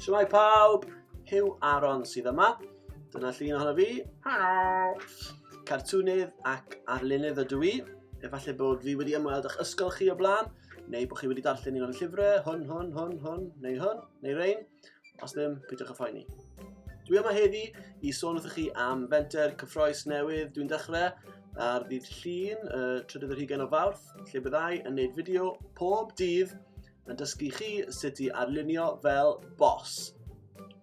Siwmai pawb, Hugh Aaron sydd yma. Dyna llun ohono fi. Helo! Cartwnydd ac arlunydd ydw i. Efallai bod fi wedi ymweld â'ch ysgol chi o blaen, neu bod chi wedi darllen un o'n llyfrau, hwn, hwn, hwn, hwn, neu hwn, neu rein. Os ddim, peidiwch â phoeni. Dwi yma heddi i sôn wrthych chi am fenter cyffroes newydd dwi'n dechrau ar ddydd Llun, y trydydd yr hugain o Fawrth, lle byddai yn neud fideo pob dydd yn dysgu chi sut i arlunio fel bos.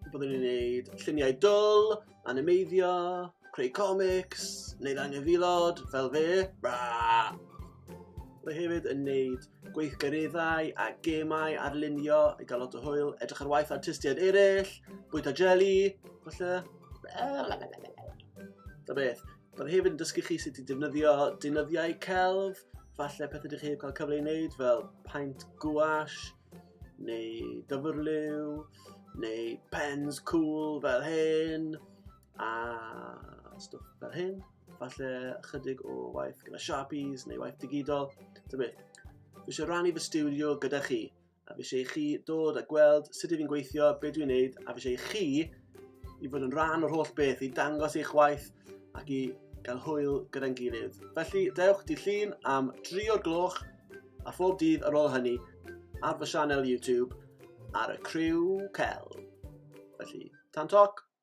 Byddwn ni'n neud lluniau dwl, animeiddio, creu comics, neud anghyfilod, fel fe. Bra! Byddai hefyd yn neud gweithgareddau a gemau ar lunio i gael lot o hwyl, edrych ar waith artistiaid eraill, bwyta jelly, falle. Da beth. Bydd hefyd yn dysgu chi sut i defnyddio deunyddiau celf, falle pethau ydych chi wedi cael cyfle i wneud fel paint gwash, neu dyfrliw, neu pens cool fel hyn, a stwff fel hyn. falle chydig o waith gyda Sharpies neu waith digidol, ta beth. Fi eisiau rannu fy studio gyda chi, a fi eisiau chi dod a gweld sut ydw i'n gweithio, beth dwi'n neud, a fi eisiau chi i fod yn rhan o'r holl beth, i dangos eich waith ac i gael hwyl gyda'n gilydd. Felly, dewch di llun am 3 o'r gloch a phob dydd ar ôl hynny ar fy sianel YouTube ar y Criw Cel. Felly, tan toc!